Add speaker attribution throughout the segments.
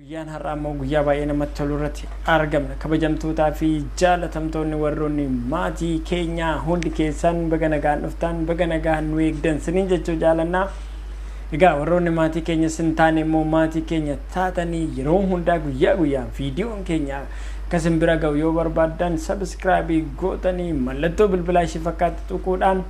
Speaker 1: Guyyaan har'aa immoo guyyaa baay'ee namatti tolu irratti argamna. Kabajamtootaa fi jaalatamtoonni warroonni maatii keenyaa hundi keessan baga nagaan dhuftan baga nagaan nu eegdan siniin jechuu jaalannaa. Egaa warroonni maatii keenyas hin taane immoo maatii keenya taatanii yeroo hundaa guyyaa guyyaan viidiyoon keenya akka isin bira ga'u yoo barbaaddan sabiskiraabii gootanii mallattoo bilbilaa ishii fakkaatti tuquudhaan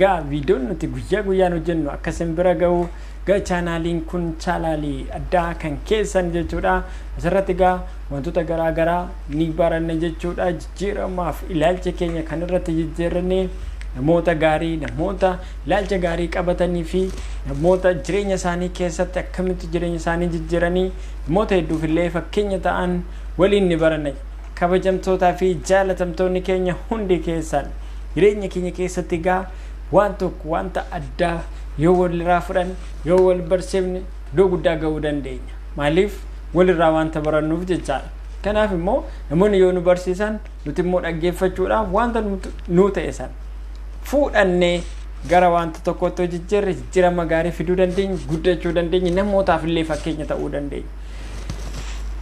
Speaker 1: gaa viidiyoon nuti guyyaa guyyaan hojjennu akka isin bira ga'u gaa chaanaaliin kun chaalaalii addaa kan keessan jechuudha asirratti gaa wantoota garaa garaa ni baranna jechuudha jijjiiramaaf ilaalcha keenya kan irratti jijjiirranne namoota gaarii namoota ilaalcha gaarii qabatanii fi namoota jireenya isaanii keessatti akkamitti jireenya isaanii jijjiiranii namoota hedduuf illee fakkeenya ta'an waliin ni baranna. Kabajamtootaa fi jaalatamtoonni keenya hundi keessan jireenya keenya keessatti egaa waan tokko wanta addaa yoo walirraa fudhanne yoo wal barsiifne iddoo guddaa ga'uu dandeenya. Maaliif walirraa wanta barannuuf jechaadha. Kanaaf immoo namoonni yoo nu barsiisan Nuti immoo dhaggeeffachuudhaaf wanta nuu ta'e sana fuudhannee gara wanta tokkootti yoo jijjiirre jijjiirama gaarii fiduu dandeenya, guddachuu dandeenya, namootaaf illee fakkeenya ta'uu dandeenya.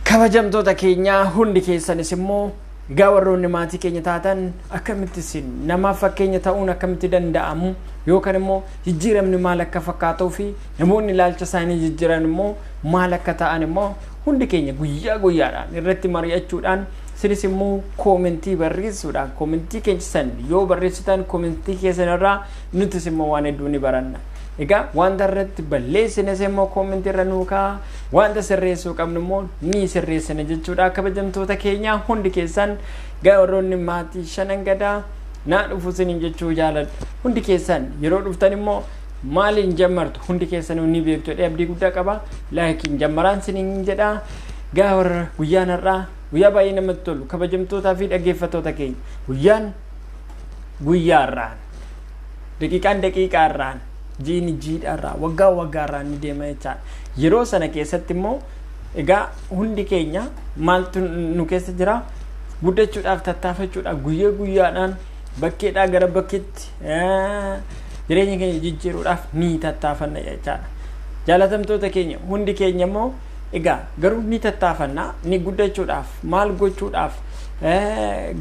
Speaker 1: Kabajamtoota keenyaa hundi keessanis immoo egaa warroonni maatii keenya taatan akkamitti isin namaaf fakkeenya ta'uun akkamitti danda'amu yookaan immoo jijjiiramni maal akka fakkaatuu fi namoonni ilaalcha isaanii jijjiiran immoo maal akka ta'an immoo hundi keenya guyyaa guyyaadhaan irratti mari'achuudhaan Isinis immoo koomentii barreessuudhaan koomentii keessan yoo barreessitan koomentii keessan irraa nutis immoo waan hedduu ni baranna. Egaa wanta irratti balleessines immoo koomentii irra nuu ka'a. Wanta sirreessuu qabnu immoo ni sirreessina jechuudha. Kabajamtoota keenya hundi keessan warroonni maatii shanan gadaa naa dhufu isiniin jechuu jaaladha. Hundi keessan yeroo dhuftan immoo maaliin jammartu hundi keessanuu ni beektu jedhee abdii guddaa qaba. Laayikiin jammaraan isiniin jedha. Egaa warra guyyaan har'aa guyyaa baay'ee namatti tolu kabajamtootaa fi dhaggeeffattoota keenya guyyaan guyyaa har'aan daqiiqaan daqiiqaa har'aan jiini jiidha har'aa waggaa waggaa har'aan ni deema jechaadha yeroo sana keessatti immoo egaa hundi keenya maaltu nu keessa jira guddachuudhaaf tattaafachuudhaaf guyyaa guyyaadhaan bakkeedhaa gara bakkeetti eh, jireenya keenya jijjiiruudhaaf ni tattaafanna jechaadha jaalatamtoota keenya hundi keenya immoo Egaa garuu ni tattaafanna, ni guddachuudhaaf, maal gochuudhaaf,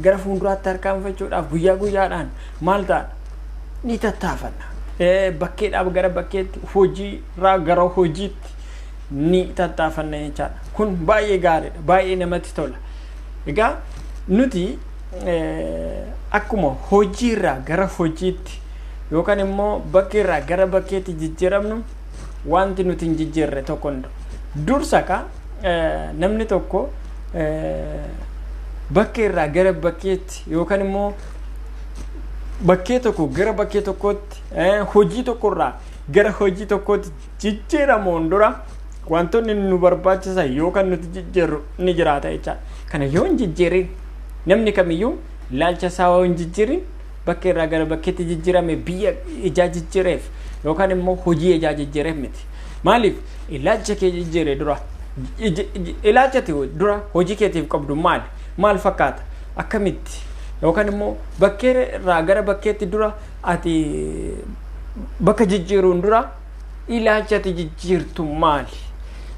Speaker 1: gara fuulduraatti harkaanfachuudhaaf guyyaa guyyaadhaan maal ta'a? Ni tattaafanna. Bakkeedhaaf gara bakkeetti, hojiirraa gara hojiitti ni tattaafanna jechaadha. Kun baay'ee gaariidha, baay'ee namatti tola. Egaa nuti akkuma hojiirraa gara hojiitti yookaan immoo bakkeerraa gara bakkeetti jijjiiramnu Wanti nuti hin jijjiirre tokko hin jiru. Dursa ka eh, namni tokko eh, bakkee irraa gara bakkeetti yookaan immoo bakkee tokko gara bakkee tokkootti eh, hojii tokkorraa gara hojii tokkootti jijjiiramuun dura wantoonni nu barbaachisan yookaan nuti jijjiirru ni jiraata jechaadha. Kana yoo hin jijjiirin namni kamiyyuu ilaalcha isaa yoo hin jijjiirin Bakke irraa gara bakkeetti jijjirame biyya ijaa jijjireef yookaan immoo hojii ijaa jijjireef miti. Maaliif ilaalcha kee jijjire dura ilaalcha dura hojii keetiif qabdu maali? Maal fakkaata? Akkamitti? Yookaan immoo bakkee irraa gara bakkeetti dura ati bakka jijjiiruun dura ilaalcha ati jijjiirtu maali?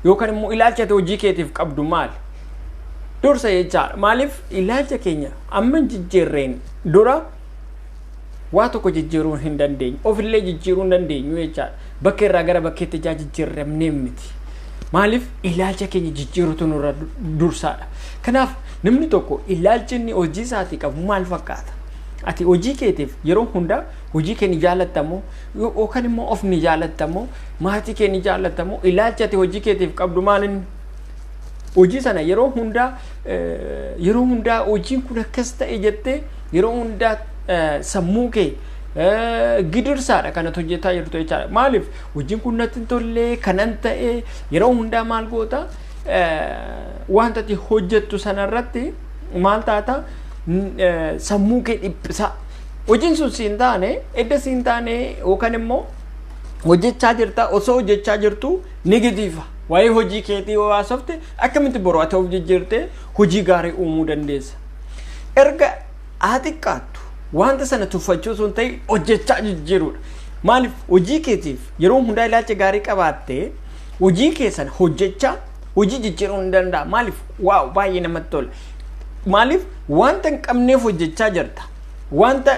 Speaker 1: Yookaan immoo ilaalcha ati hojii keetiif qabdu maali? Dursa jechaadha. Maaliif ilaalcha keenya amma jijjiirreen Dura waa tokko jijjiiruu hin dandeenyu. Ofillee jijjiiruu hin dandeenyu jechaadha. Bakka irraa gara bakkeetti ijaa jijjiirramnee miti. Maaliif ilaalcha keenya jijjiirutu nurra dursaadha. Kanaaf namni tokko ilaalchi inni hojii isaatii qabu maal fakkaata? Ati hojii keetiif yeroo hundaa hojii kee ni jaalattamoo yookaan immoo of ni jaalattamoo maatii kee ni jaalattamoo ilaalcha ati hojii keetiif qabdu maal inni? Hojii sana yeroo hundaa yeroo hundaa hojiin kun akkas ta'e jettee yeroo hundaa sammuu kee gidirsaadha kan ati hojjetaa jirtu jechaadha. Maaliif hojiin kun natti hin tolle kanan ta'e yeroo hundaa maal goota wanta ati hojjettu sanarratti maal taata sammuu kee dhiphisaa. Hojiin sun si hin taane edda si hin taane yookaan immoo hojjechaa jirta osoo hojjechaa jirtu Ni gidifa. Waa'ee hojii keetii yoo haasofte akkamitti boru ati of jijjiirtee hojii gaarii uumuu dandeessa. Erga haa xiqqaattu wanta sana tuffachuu osoo hin ta'in hojjechaa jijjiiruudha. Maaliif hojii keetiif yeroo hundaa ilaalcha gaarii qabaattee hojii kee sana hojjechaa hojii jijjiiruu ni danda'a. Maaliif waaw baay'ee namatti tola. Maaliif wanta hin qabneef hojjechaa jirta. Wanta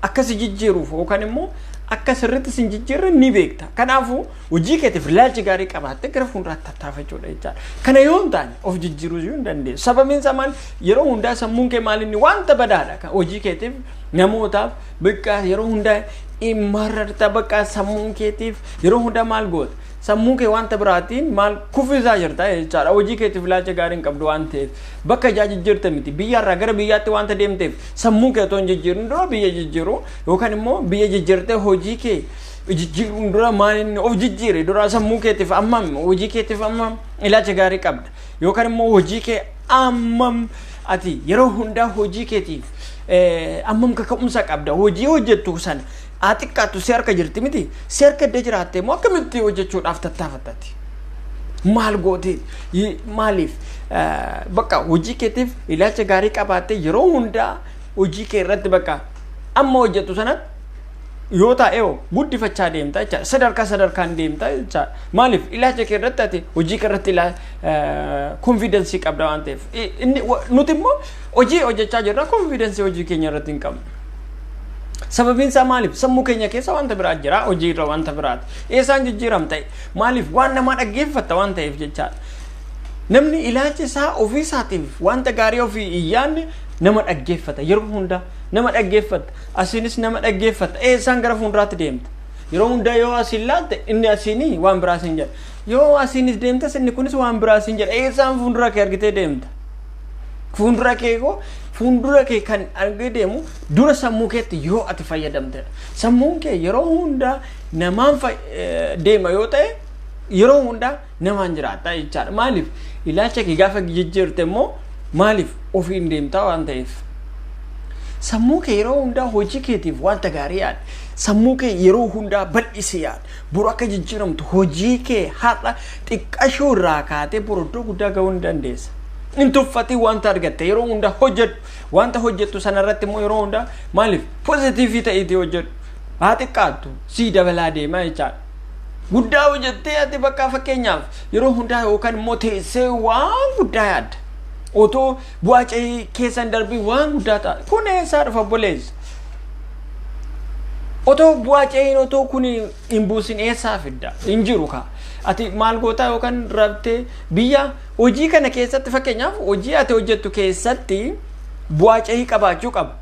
Speaker 1: akka si jijjiiruuf yookaan immoo akka sirriitti sin jijjiirre ni beekta. Kanaafuu hojii keetiif ilaalchi gaarii qabaattee gara fuulduraatti tattaafachuudha jechaadha. Kana yoo hin taane of jijjiiruu iyyuu hin dandeessu. Sababiin isaa maal yeroo hundaa sammuun kee maal inni wanta badaadha kan hojii keetiif namootaaf bakka yeroo hundaa mararta bakka sammuun keetiif yeroo hundaa maal goota. Sammuu kee wanta biraatiin maal kuffisaa jirta jechaadha. Hojii keetiif ilaalcha gaarii hin qabdu waan ta'eef bakka ijaa jijjiirte miti biyyarraa gara biyyaatti wanta deemteef Sammuu kee otoo hin jijjiirin dura biyya jijjiiru yookaan immoo biyya jijjiirtee hojii kee jijjiiruun dura maal inni of jijjiire dura sammuu keetiif ammam hojii keetiif ammam ilaacha gaarii qabda yookaan immoo hojii kee ammam ati yeroo hundaa hojii keetiif eh, ammam kaka'umsa qabda hojii hojjettu sana haa xiqqaattu si harka jirti miti si harka edda jiraatte immoo akkamitti hojjechuudhaaf tattaafattati maal gootee Yi- maaliif eh, bakka hojii keetiif ilaalcha gaarii qabaatte yeroo hundaa hojii kee irratti bakka amma hojjettu sanatti yoo taa'ee guddifachaa deemta jechaadha sadarkaa sadarkaan deemta jechaadha maaliif ilaalcha kee irratti ati hojii kee irratti konfiidensii qabda waan ta'eef I- inni wa- nuti immoo hojii hojjechaa jirra konfiidensii hojii keenya irratti hin qabnu Sababiin isaa maaliif? Sammuu keenya keessa wanta biraa jira, hojii irra wanta biraati. Eessaan jijjiiram ta'e? Maaliif? Waan namaa dhaggeeffatta waan ta'eef jechaadha. Namni ilaalcha isaa ofii isaatiif wanta gaarii ofii hin yaadne nama dhaggeeffata yeroo hundaa nama dhaggeeffata asiinis nama dhaggeeffata eessaan gara fuulduraatti deemta. Yeroo hundaa yoo asiin laalte inni asiinii waan biraa siin jedha. Yoo asiinis deemtes inni kunis waan biraa siin jedha. Eessaan fuuldura kee argitee deemta. Fuuldura kee koo fuuldura kee kan argee deemu dura sammuu keetti yoo ati fayyadamtedha. Sammuun kee yeroo hundaa namaan deema yoo ta'e yeroo hundaa namaan jiraata jechaadha. Maaliif ilaalcha kee gaafa jijjiirte immoo maaliif ofiin deemtaa waan ta'eef. Sammuu kee yeroo hundaa hojii keetiif wanta gaarii yaada. Sammuu kee yeroo hundaa bal'isi yaada. Boru akka jijjiiramtu hojii kee har'a xiqqashuu irraa kaatee boru iddoo guddaa ga'uu ni dandeessa. Hin tuffatiin wanta argatte yeroo hundaa hojjedhu. Wanta hojjettu sanarratti immoo yeroo hundaa maaliif pozitiivii ta'iitii hojjedhu. Haa xiqqaattu sii dabalaa deemaa jechaadha. Guddaa hojjettee ati bakka fakkeenyaaf yeroo hundaa yookaan immoo teessee waan guddaa yaadda. Otoo Bu'aa ce'ii keessan darbii waan guddaa ta'a. Kun eessaa dhufa obboleessa? Otoo bu'aa ce'iin otoo kun hin buusin eessaa fidda? Hin jiru kaa. Ati maal gootaa yookaan rabtee biyya hojii kana keessatti fakkeenyaaf hojii ati hojjettu keessatti bu'aa ce'ii qabaachuu qaba.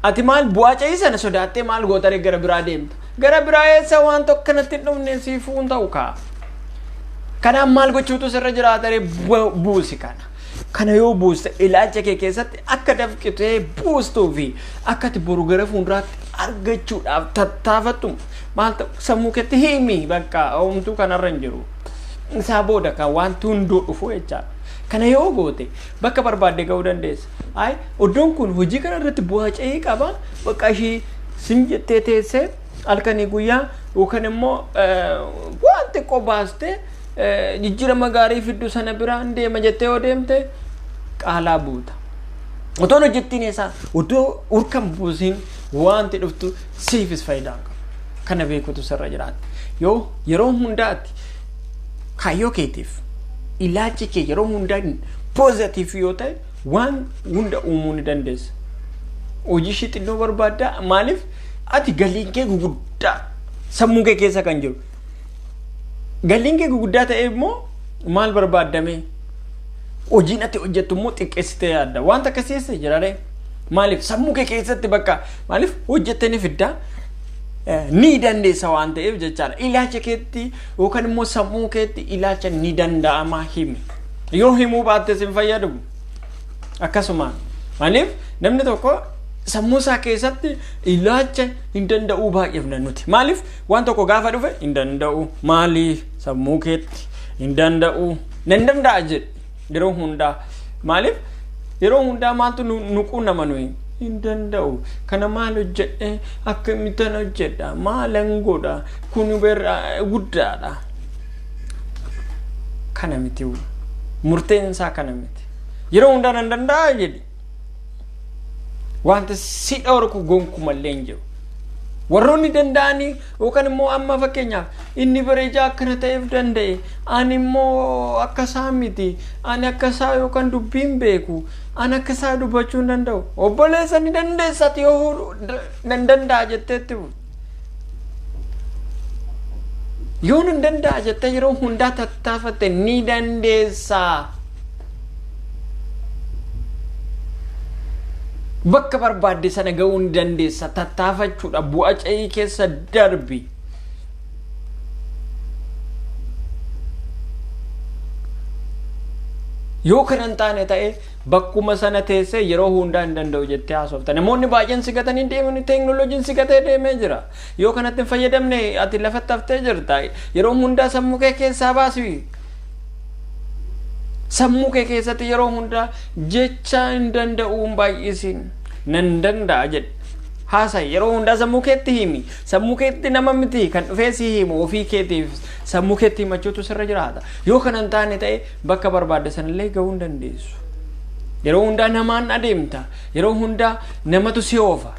Speaker 1: Ati maal bu'aa ce'ii sana sodaattee maal gootaree gara biraa deemta? Gara biraa eessa waan tokko kanatti hin dhufne siifuu hin ta'u kaa. Kanaaf maal gochuutu sirra jiraataree buusi kana. Kana yoo buuste ilaalcha kee keessatti akka dafqitee buustuu fi akka ati boru gara fuulduraatti argachuudhaaf tattaafattu maal ta'u sammuu keetti himi bakka homtuu kanarra hin jiru. Isaa booda kan wanti hunduu dhufu jechaadha. Kana yoo goote bakka barbaadde ga'uu dandeessa. Ayi iddoon kun hojii kana irratti bu'aa ce'ii qaba bakka ishii sin jettee teessee halkanii guyyaa yookaan immoo waan xiqqoo baastee jijjiirama gaarii fiddu sana biraan deema jettee yoo deemte qaalaa buuta. Otoon hojjettiin isaa otoo urkan buusiin wanti dhuftu siifis faayidaa qaba. Kana beekutu sirra jiraata. Yoo yeroo hundaatti kaayyoo keetiif ilaalchi kee yeroo hundaa poozatiif yoo ta'e waan hunda uumuu ni dandeessa. Hojii ishii xinnoo barbaaddaa maaliif Ati galiin kee guguddaa sammuu kee keessa kan jiru. Galiin kee guguddaa ta'e immoo maal barbaaddamee? Hojiin ati hojjettu immoo xiqqeessitee yaadda. Wanta akkasii eessa jiraree? Maaliif sammuu kee keessatti bakka maaliif hojjettee ni fiddaa? ni dandeessa waan ta'eef jechaadha. Ilaalcha keetti yookaan immoo sammuu keetti ilaalcha ni danda'ama himi. Yoo himuu baattes hin fayyadu. akkasuma maaliif namni tokko sammuu isaa keessatti ilaacha hin danda'uu baay'ifna nuti maaliif waan tokko gaafa dhufe hin danda'u maalii sammuu keetti hin danda'u nan danda'a jedhe yeroo hundaa maaliif yeroo hundaa maaltu nu nu quunnama nuyi hin danda'u kana maal hojjedhe akkamittan hojjedha maalan godha kun berra guddaadha kana miti murteen isaa kana miti Yeroo hundaa nan danda'a jedhi. Wanta si dhorku gonkumallee hin jiru. Warroonni danda'anii yookaan immoo amma fakkeenyaaf inni bareedaa akkana ta'eef danda'e ani immoo akka isaa miti ani akka isaa yookaan dubbii hin beeku ani akka isaa dubbachuu hin danda'u obboleessa ni dandeessati yoo nan danda'a jetteetti Yoo nun danda'a jettee yeroo hundaa tattaafatte ni dandeessaa. Bakka barbaadde sana ga'uu ni dandeessa. Tattaafachuudha. Bu'a ce'ii keessa darbi. Yoo kana hin taane ta'e Bakkuma sana teessee yeroo hundaa hin danda'u jettee haasofta. Namoonni baay'een si gatanii deemanii teeknooloojiin si gatee deemee jira. Yoo kanatti hin fayyadamne ati lafatti haftee jirta. Yeroo hundaa sammuu kee keessaa baasi. Sammuu kee keessatti yeroo hundaa jecha hin danda'u hin baay'isiin. Nan danda'a jedhe. Haasa yeroo hundaa sammuu keetti himi. Sammuu keetti nama miti kan dhufee si himu ofii keetiif sammuu keetti himachuutu sirra jiraata. Yoo kana hin taane ta'e Bakka barbaadde sanallee gahuu hin dandeessu. Yeroo hundaa namaan adeemta. Yeroo hundaa namatu si oofa.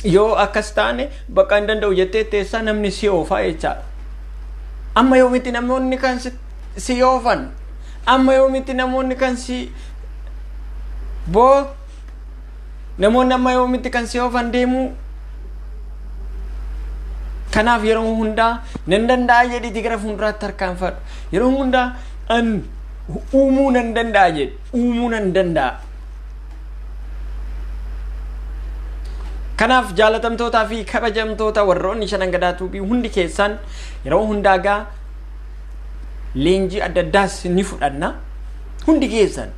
Speaker 1: Yoo akkas taane bakka hin danda'u jettee teessaa namni si oofaa jechaadha. Amma yoomitti namoonni kan si oofan? Amma yoomitti namoonni kan si boo Namoonni amma yoomitti kan si oofan deemu kanaaf yeroo hundaa nan danda'a jedhiti gara fuulduraatti tarkaanfadhu. Yeroo hundaa an uumuu nan danda'a jedhi. Uumuu nan danda'a. Kanaaf jaalatamtootaa fi kabajamtoota warroonni shanan gadaa tuubii hundi keessaan yeroo hundaa gaa leenjii adda addaas ni fudhanna. Hundi keessan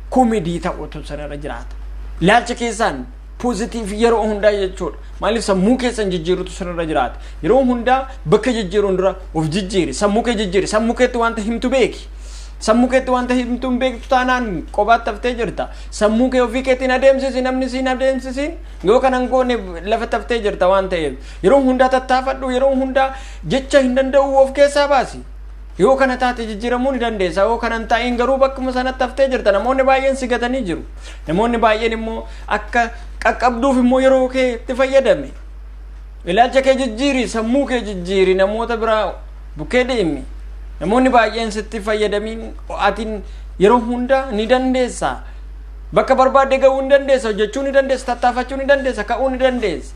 Speaker 1: komedii ta'utu sanarra jiraata. Ilaalcha keessaan poozitiif yeroo hundaa jechuudha. Maaliif sammuu keessan jijjiirutu sanarra jiraata. Yeroo hundaa bakka jijjiiruun dura of jijjiiri. Sammuu kee jijjiiri. Sammuu keetti wanta himtu beeki. Sammuu keetti wanta himtu hin beektu taanaan qobaatti haftee jirta. Sammuu kee ofii keetiin adeemsisi namni siin adeemsisiin yoo kana hin goone lafa taftee jirta waan ta'eef. Yeroo hundaa tattaafadhu yeroo hundaa jecha hin danda'u of keessaa baasi. Yoo kana taate jijjiiramuu ni dandeessa. Yoo kana hin ta'iin garuu bakkuma sanatti haftee jirta. Namoonni baay'een si gatanii jiru. Namoonni baay'een immoo akka qaqqabduuf immoo yeroo kee itti fayyadame. Ilaalcha kee jijjiiri, sammuu kee jijjiiri, namoota biraa bukkee deemi. Namoonni baay'een sitti fayyadamiin atiin yeroo hunda ni dandeessa. Bakka barbaadde ga'uu ni dandeessa, hojjechuu ni dandeessa, tattaafachuu ni dandeessa, ka'uu ni dandeessa.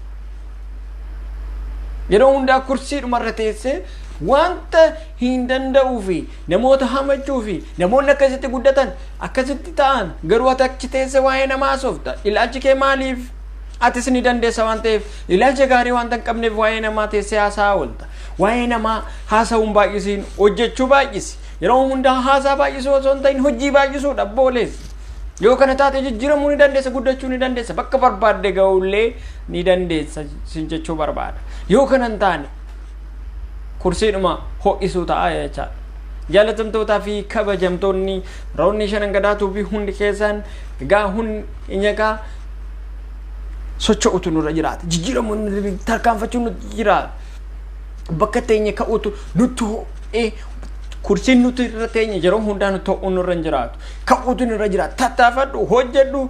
Speaker 1: Yeroo hundaa kursii dhumarra teessee Wanta hin danda'uu fi namoota hamachuu fi namoonni akkasitti guddatan akkasitti ta'an garuu ati achi teesse waa'ee namaa haasofta. Ilaalchi kee maaliif? Atis ni dandeessa waan ta'eef ilaalcha gaarii wanta hin qabneef waa'ee namaa teessee haasaa oolta. Waa'ee namaa haasa'uun baay'isiin hojjechuu baay'isi. Yeroo hundaa haasaa baay'isuu osoo hin ta'in hojii baay'isuudha boolees. Yoo kana taate jijjiiramuu ni dandeessa guddachuu ni dandeessa bakka barbaadde ga'ullee ni dandeessa sin jechuu barbaada. Yoo kana hin taane kursiidhuma ho'isuu ta'a jechaadha. Jaalatamtootaa fi kabajamtoonni roonni shanan gadaa tuubii hundi keessaan egaa hundi nyagaa socho'utu nurra jiraata. Jijjiiramoonni tarkaanfachuun nutti jiraata. Bakka teenya ka'utu nutti ho'ee kursiin nuti irra teenya yeroo hundaa nutti ho'uu nurra hin jiraatu. Ka'uutu nurra jiraata. Tattaafadhu, hojjedhu,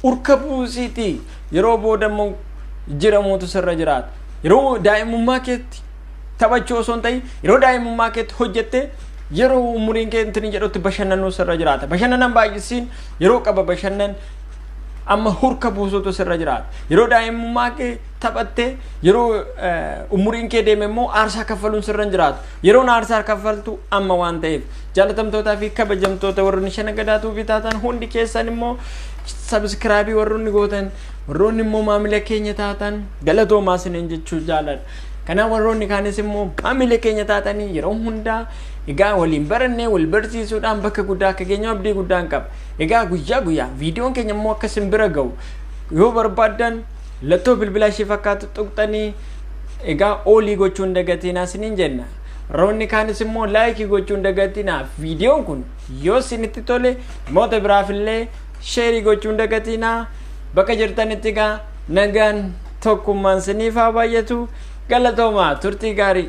Speaker 1: urka buusiitii. Yeroo booda immoo jiramuutu sirra jiraata. Yeroo daa'imummaa keetti taphachuu osoo hin ta'in yeroo daa'imummaa keetti hojjettee yeroo umuriin kee intini jedhutti bashannanuu sirra jiraata. Bashannanan baay'isiin yeroo qaba bashannan amma hurka buusuutu sirra jiraata. Yeroo daa'imummaa kee taphattee yeroo umuriin kee deeme immoo aarsaa kaffaluun sirra hin jiraatu. Yeroon aarsaa kaffaltu amma waan ta'eef jaalatamtootaa fi kabajamtoota warri shana gadaatuu bitaatan hundi keessan immoo Subscribe warroonni gootan warroonni immoo maamila keenya taatan galatoomaa isiniin jechuu jaaladha. Kanaaf warroonni kaanis immoo maamila keenya taatanii yeroo hundaa egaa waliin barannee wal barsiisuudhaan bakka guddaa akka geenyu abdii guddaan qaba. Egaa guyyaa guyyaa viidiyoon keenya immoo akka isin bira ga'u yoo barbaaddan lattoo bilbilaa ishee fakkaatu tuqxanii egaa oolii gochuun dagatinaa isiniin jenna. Warroonni kaanis immoo laayikii gochuun dagatinaa viidiyoon kun Yoo sinitti tole moota biraafillee sheerii gochuun dagatiinaa bakka jirtanitti gaa nagaan tokkummaan siniif haa baay'atu galatoomaa turtii gaarii.